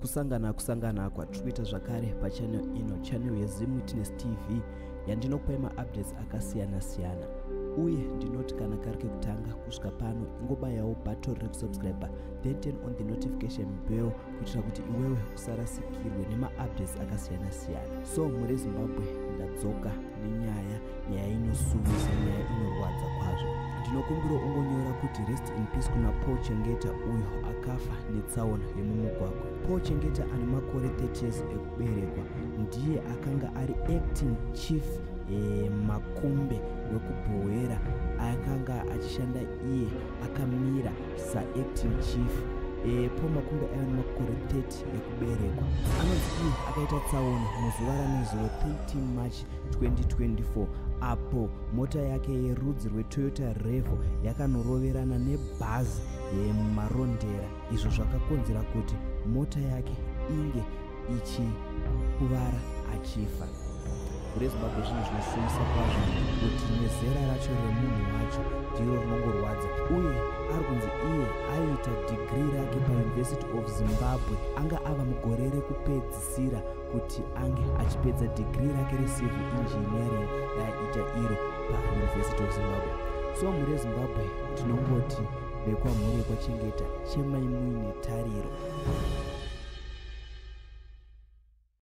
kusangana kusangana kwatiri kuita zvakare pachanel ino chanel yezimutinestv yandinokupai maupdates akasiyana siyana uye ndinoti kana kari kekutanga kusvika pano ingobayawo bato rekusubscriber then turn on the notification bell kuitira kuti iwewe usarasikirwe nemaupdates akasiyana siyana so muri zimbabwe ndadzoka nenyaya nyaya inosumisa nyaya inorwadza kwazvo ndinokumbira ungonyora kuti rest in peace kuna paul chengeta uyo akafa netsaona yemumugwagwa paul chengeta ane makore 30 years kuberekwa ndiye akanga ari acting chief eh, makumbe wekubhohwera akanga achishanda iye akamira saacting chief eh, paul makumbe aiva nemakore 30 ekuberekwa anonzi iye akaita tsaona muzuva ranezuro 13 march 2024 apo mota yake yerudzi rwetoyota revo yakanoroverana nebhazi yemarondera eh, izvo zvakakonzera kuti mota yake inge ichikuvara achifa kure zimbabwe zvinhu zvinosumisa kwazvo kuti nezera racho remunhu wacho ndiro rinongorwadza uye ari kunzi iye aiita dhigiri rake pauniversity of zimbabwe anga ava mugore rekupedzisira kuti ange achipedza dhigiri rake recivil engineering raiita iro pauniversity of zimbabwe so mure zimbabwe tinongoti vekwamhuri yekwaChengeta chemai muine tariro.